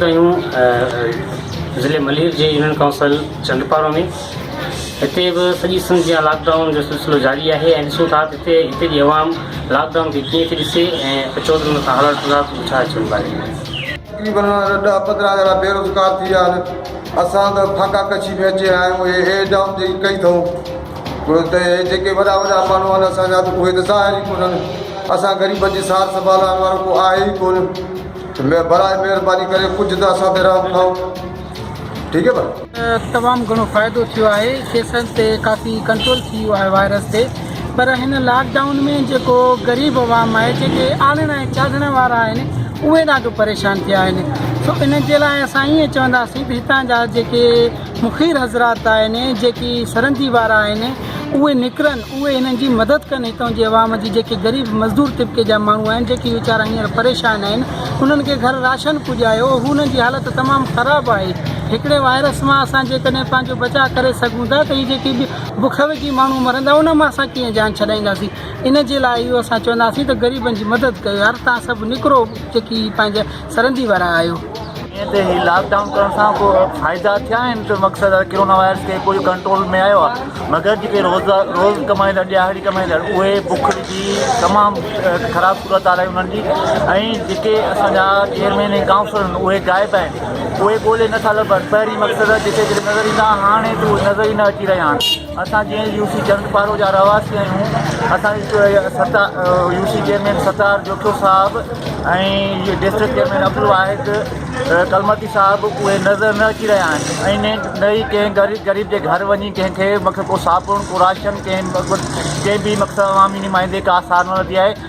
ڪيون ضلعي ملير جي يونين ڪائونسل چندپارو ۾ هتي به سڄي سنڌ جيان لاڪ ڊائون جو سلسلو جاري آهي ۽ ڏسون ٿا هتي هتي جي عوام لاڪ ڊائون کي ڪيئن ٿي ڏسي ۽ اچو ته ان کان هلڻ ٿلڻ کان ڇا اچڻ واري تقريبن ڏهه پندرهن ڄڻا بيروزگار ٿي ويا آهن اسان ته ڦاڪا ڪشي ۾ اچي آيا آهيون هي ايڊ ڊائون جيڪي ڪئي اٿئون ڇو ته اهي جيڪي وڏا وڏا ماڻهو آهن اسان جا ته اهي ته ظاهر ئي ڪونهن. اسان غريبن جي سار سنڀالائڻ وارو ڪو آهي ئي ڪونه ته براء مهرباني ڪري ڪجهه ته اسان تي رحم ٺاهو. ٺيڪ هي ڀلا. تمام گهڻو فائدو ٿيو آهي ڪيسن تي ڪافي ڪنٽرول ٿي ويو آهي وائرس تي پر هن لاڪ ڊائون ۾ جيڪو غريب عوام آهي جيڪي آڙهڻ ۽ چاڙهڻ وارا آهن اهي ڏاڍو پريشان ٿيا آهن سو انهن جي لاء اسان ائين چونداسين ڀي هتان جا جيڪي فقير حضرات آهن جيڪي سرندي وارا آهن اهي نڪرن اهي انهن جي مدد ڪن هتان جي عوام جي جيڪي غريب مزدور طبقي جا ماڻهو آهن جيڪي ويچارا هينئر پريشان آهن انهن کي گهر راشن پڄايو هونهن جي حالت تمام خراب آهي هڪڙي وائرس مان اسان جيڪڏهن پنهنجو بچاء ڪري سگهون ٿا ته هي جيڪي بک وگهي ماڻهو مرندا انهن مان اسان ڪيئن جان ڇڏائينداسين ان جي لاء اهو اسان چونداسين ته غريبن جي مدد ڪيو يار تان سڀ نڪرو جيڪي پنهنجا سرندي وارا آهيو. ائين ته هي لاڪ ڊائون ڪرڻ سان ڪو فائدا ٿيا آهن ته مقصد آهي ڪرونا وائرس کي ڪجهه ڪنٽرول ۾ آيو آهي مگر جيڪي روز روز ڪمائيندڙ ڏيهاڙي ڪمائيندڙ اهي بک ڏسي تمام خراب صورت حال آهي انهن جي ۽ جيڪي اسان جا چيئرمين ۽ ڪائونسلر آهن اهي غائب آهن اهي ڳولي نٿا لڀن پهرين مقصد جيڪي جيڪي نظر ايندا هاڻي ته اهي نظر ئي نه اچي رهيا آهن. اسان جي N U C Chandparo جا رهواسي آهيون اسان جي ستا U C chairman Sattar Jokhio صاحب ۽ ڊسٽرڪٽ چيئرمين عبدالواحد ڪلمتي صاحب اهي نظر نه اچي رهيا آهن ۽ نه ئي ڪنهن غريب غريب جي گهر وڃي ڪنهن کي مک ڪو صابڻ ڪو راشن ڪنهن ڪنهن به مقصد عوامي نمائندي ڪا سار نه ورتي آهي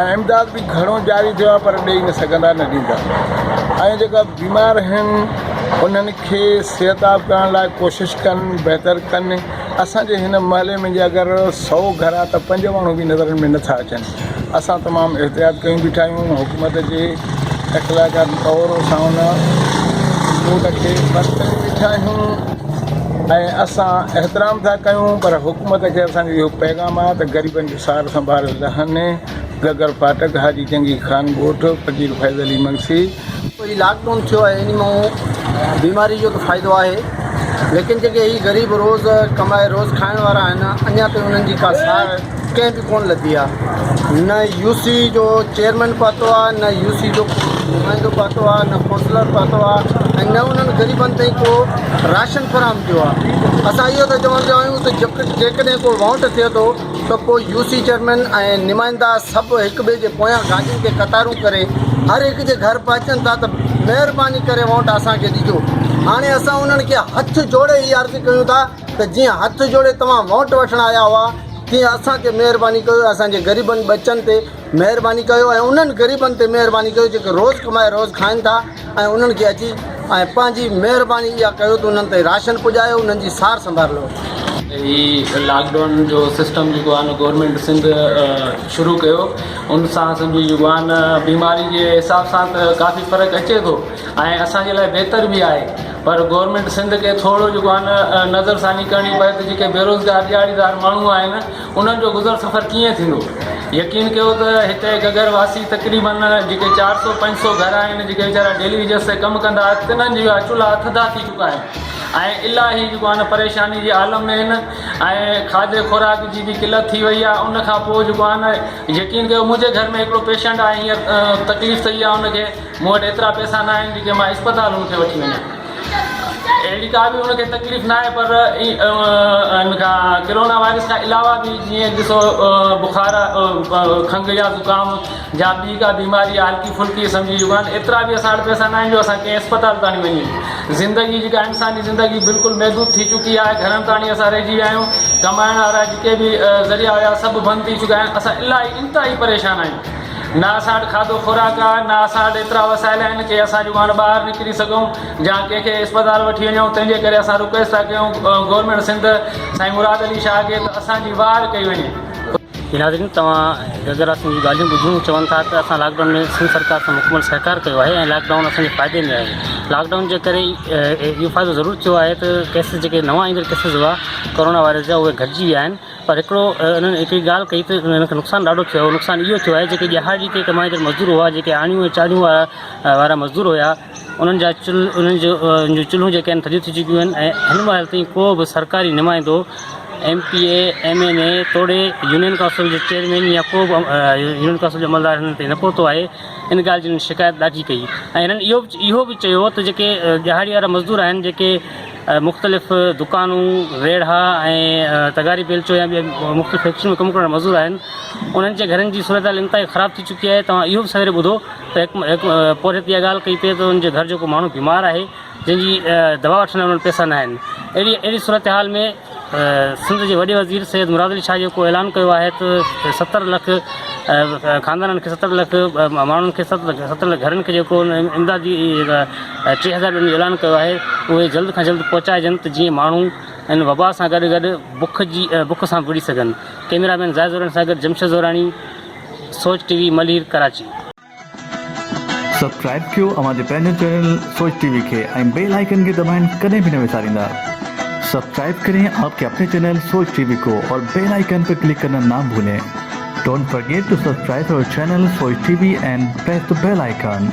۽ امداد به گهڻو جاري ٿيو آهي پر ڏئي نه سگهندا نه ڏيندا ۽ جيڪا بيمار آهن انهن کي صحتاب ڪرڻ لاء ڪوشش ڪن بهتر ڪن اسانجي هن محلي ۾ جي اگر سو گهر آهي ته پنج ماڻهو به نظرن ۾ نٿا اچن اسان تمام احتياط ڪيون بيٺا آهيون حڪومت جي اخلاقيات طور اسان ان موت کي بند ڪري بيٺا آهيون ۽ اسان احترام ٿا ڪيون پر حڪومت کي اسانجو اهو پيغام آهي ته غريبن جو سار سنڀال لهاني، گگر ڦاٽڪ، حاجي جنگي خان ڳوٺ، فقير فيض علي منشي. هي لاڪ ڊائون ٿيو آهي ان مان بيماري جو ته فائدو آهي ليڪن جيڪي هي غريب روز ڪمائي روز کائڻ وارا آهن اڃا تائين انهن جي ڪا سار ڪنهن به ڪونه لڌي آهي نه يو سي جو چيئرمين پهتو آهي نه يو سي جو نمائندو پهتو آهي نه ڪونسلر پهتو آهي ۽ نه انهن غريبن تائين ڪو راشن فراهم ٿيو آهي اسان اهو ٿا چوڻ چاهيون ته جيڪڏهن ڪو وانٽ ٿئي ٿو ته پوء يو سي چيئرمين ۽ نمائندا سڀ هڪ ٻئي جي پويان گاڏين تي قطارون ڪري هر هڪ جي گهر پهچن ٿا ته مهرباني ڪري وونٽ اسان کي ڏجو هاڻي اسان انهن کي هٿ جوڙي هي عرض ڪيون ٿا ته جيئن هٿ جوڙي توهان وونٽ وٺڻ آيا هئا تيئن اسان تي مهرباني ڪيو اسان جي غريبن ٻچن تي مهرباني ڪيو ۽ انهن غريبن تي مهرباني ڪيو جيڪي روز ڪمائي روز کائن ٿا ۽ انهن کي اچي ۽ پنهنجي مهرباني اها ڪيو ته انهن تائين راشن پڄايو انهن جي سار سنڀار لئو. هي لاڪ ڊائون جو سسٽم جيڪو آهي نه گورنمينٽ سنڌ شروع ڪيو ان سان اسان جي جيڪو آهي نه بيماري جي حساب سان ته ڪافي فرق اچي ٿو ۽ اسان جي لاء بهتر به آهي پر گورنمينٽ سنڌ کي ٿورو جيڪو آهي نه نظر ثاني ڪرڻي پئي ته جيڪي بيروزگار ڏهاڙيدار ماڻهو آهن انهن جو گذر سفر ڪيئن ٿيندو؟ يقين ڪيو ته هتي گگر واسي تقريبن جيڪي چار سؤ پنج سؤ گهر آهن جيڪي ويچارا ڊيلي ويجز تي ڪم ڪندا تنهن جي اها چلها ٿڌا ٿي چڪا آهن ۽ الاهي جيڪو آهن پريشاني جي عالم ۾ آهن ۽ کاڌي خوراڪ جي به قلت ٿي وئي آهي ان کان پوء جيڪو آهن يقين ڪيو منهنجي گهر ۾ هڪڙو پيشنٽ آهي هينئر تڪليف ٿئي آهي ان کي مون وٽ ايترا پئسا نه آهن جيڪي مان اسپتال هن کي وٺي وڃان. اهڙي ڪا به هن کي تڪليف نه آهي پر هن کان ڪرونا وائرس کان علاوه به جيئن ڏسو بخار، کنگهه يا زڪام جا ٻي ڪا بيماري آهي هلڪي ڦلڪي سمجهي چڪا آهن. ايترا به اسان وٽ پئسا نه آهن جو اسان ڪنهن اسپتال تاڻي وڃون. زندگي جيڪا انساني زندگي بلڪل محدود ٿي چڪي آهي. گهرن تاڻي اسان رهجي ويا آهيون. ڪمائڻ وارا جيڪي به ذريعا هيا سڀ بند ٿي چڪا آهن. اسان الاهي انتهائي پريشان آهيون. نه اسان وٽ کاڌو خوراڪ آ، نه اسان وٽ ايترا وسائل آهن ڪي اسان جون هاڻ ٻاهر نڪري سگهون جا ڪنهن کي اسپتال وٺي وڃون تنهن جي ڪري اسان رڪويسٽ ٿا ڪيون گورنمينٽ سنڌ سائين مراد علي شاهه کي ته اسان جي واهر ڪئي وڃي. جي ناظرين توهان گرگرا سنگهه جون ڳالهيون ٻڌيون چون ٿا ته اسان لاڪ ڊائون ۾ سنڌ سرڪار سان مڪمل سهڪار ڪيو آهي ۽ لاڪ ڊائون اسان جي فائدي ۾ آهي لاڪ ڊائون جي ڪري اهو فائدو ضرور ٿيو آهي ته ڪيسز جيڪي نوان ايندڙ ڪيسز هئا ڪورونا وائرس جا اهي گهٽجي ويا آهن پر هڪڙو انهن هڪڙي ڳالهه ڪئي ته انهن کي نقصان ڏاڍو ٿيو آهي، نقصان اهو ٿيو آهي جيڪي ڏهاڙي تي ڪمائيندڙ مزدور هئا، جيڪي آڻيون ۽ چاڙهيون وارا وارا مزدور هيا، انهن جا چل انهن جو جون چلهون جيڪي آهن ٿڌيون ٿي چڪيون آهن ۽ هن مهل تائين ڪو به سرڪاري نمائندو، M P A, M N A توڙي يونين ڪائونسل جو چيئرمين يا ڪو به يونين ڪائونسل جو عملدار هنن تائين نه پهتو آهي، ان ڳالهه جي هنن شڪايت ڏاڍي ڪئي ۽ هنن اهو اهو به چيو ته جيڪي ڏهاڙي وارا مزدور آهن جيڪي. مختلف دڪانون، ريڙها ۽ تغاري بيلچو يا ٻين مختلف فيڪٽرين ۾ ڪم ڪرڻ وارا مزور آهن، انهن جي گهرن جي صورتحال انتهائي خراب ٿي چڪي آهي، توهان اهو به سويري ٻڌو ته هڪ هڪ پورهيت اها ڳالهه ڪئي پئي ته ان جي گهر جو ڪو ماڻهو بيمار آهي جنهن جي دوا وٺڻ لاء انهن وٽ پئسا ناهن، اهڙي اهڙي صورتحال ۾. سنڌ جي وڏي وزير سيد مراد علي شاهه جيڪو اعلان ڪيو آهي ته ستر لک خاندانن کي ستر لک ماڻهن کي ستر لک گهرن کي جيڪو امدادي ٽي هزار ڏينهن جو اعلان ڪيو آهي اهي جلد کان جلد پهچائجن ته جيئن ماڻهو ان وبا سان گڏ گڏ بک جي بک سان وڙهي سگهن ڪئميرا مين زاهد زوراڻي سان گڏ Jamshed Zorani Soch T V Malir Karachi subscribe ڪيو اوهان جي پنهنجي چينل سوچ ٽي وي کي ۽ بيل آئيڪن کي دٻائڻ ڪڏهن به نه وساريندا سبسڪرائب ڪرين آپ ڪي اپني چينل سوچ ٽي وي ڪو اور بيل آئيڪن پي ڪلڪ ڪرنا نا ڀولين ڊونٽ فرگيٽ ٽو سبسڪرائب اور channel Soch T V and press the bell icon.